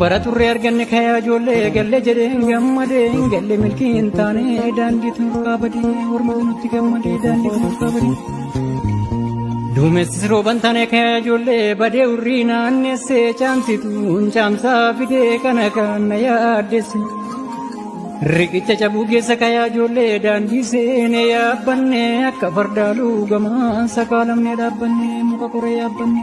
Bara turre arganne kaya ijoollee galle jedheen gammade galle milkii hin taane daandii tun kaabadi hormatu nutti gammade daandii tun kaabadi. Duumessis rooban taane kaya ijoollee badee urrii naannessee caamsituun caamsaa fidee kana kan na yaaddesse. Riqicha cabuu keessa kaya ijoollee daandii seenee yaabbanne akka fardaaluu gamaan sakaalamne dhaabbanne muka koree yaabbanne.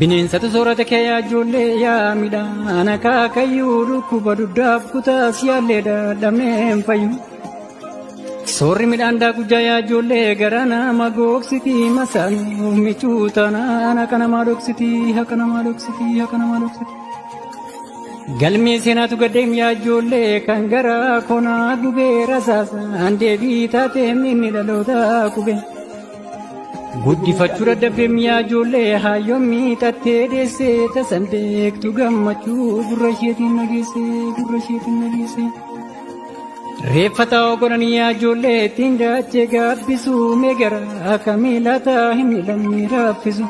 Bineensatu soorata kee yaa ijoollee yaa midhaan akaakayyuu dhukkuba dugdaaf kutaas yaallee dadhabnee hin fayyu. Soorri midhaan daakujjaa yaa ijoollee gara nama gogsiti masaaluu michuu taanaan akka namaa dhoksiti akka namaa dhoksiti akka namaa dhoksiti. Galmee seenaatu gaddeem yaa ijoollee kan gara konaa gubee rasaasaan deebii taatee inni dhaloota qubee. Guddifachuu dadhabdee miyaa ijoollee haayyoon miixattee deessee tasan beektu gammachuu gurra isheetiin nageessee gurra isheetiin nageessee. Reeffa ta'oo godhanii yaa ijoollee ittiin daachee gaabbisuu mee garaa akka miilaa ta'a hin miilamne raaffisu.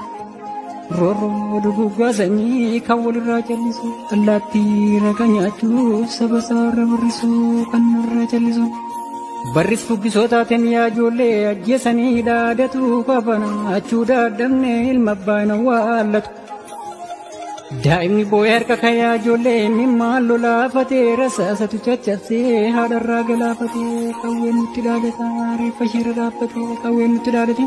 Roorroo duguuggaa sanyii kan walirraa callisu allaattii raqa nyaachuuf saba isaarra burrisu kan nurra callisu. Barris fuggisootaatiin yaa ijoollee ajjeesanii dhaadatu qabana achuu daadhabne ilma abbaan awwaallatu. Daa'imni boo'ee harka kayaa ijoollee mimmaan lolaafatee rasaasatu caccabsee haadharraa galaafatee qawween nutti dhaadata reeffa isheerra dhaabbatee qawween nutti dhaadate.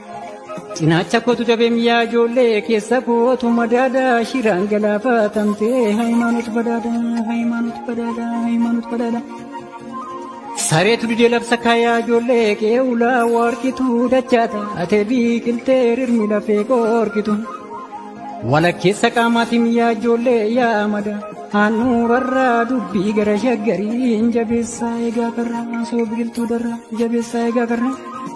Cinaacha kootu dabeem yaa ijoollee keessa kootu madaada shiraan galaafatamtee hayimaanot badaada hayimaanot badaada hayimaanot badaada. Sareetu didee labsa kaayaa ijoollee kee ulaa warqitu dachaa taate biqiltee rirmi lafee qorqitu. Walakkeessa qaamaatiin yaa ijoollee yaa amada handhuurarraa dubbii gara shaggariin jabeessaa egaa karraa osoo biqiltuu darraa jabeessaa egaa karraa.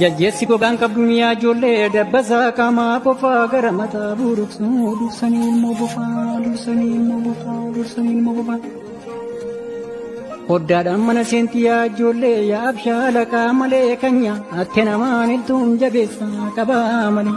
Jajjeessi gogaan qabdu miyaa ijoollee dabbasaa qaamaa qofaa gara mataa buruqsuu dursanii ilmoo bofaa dursanii ilmoo bofaa dursanii ilmoo bofaa. Hoddaadhaan mana seentii yaa ijoollee yaa abshaala qaamaa malee kan nyaatte namaan iltuun jabeessaa qabaa malee.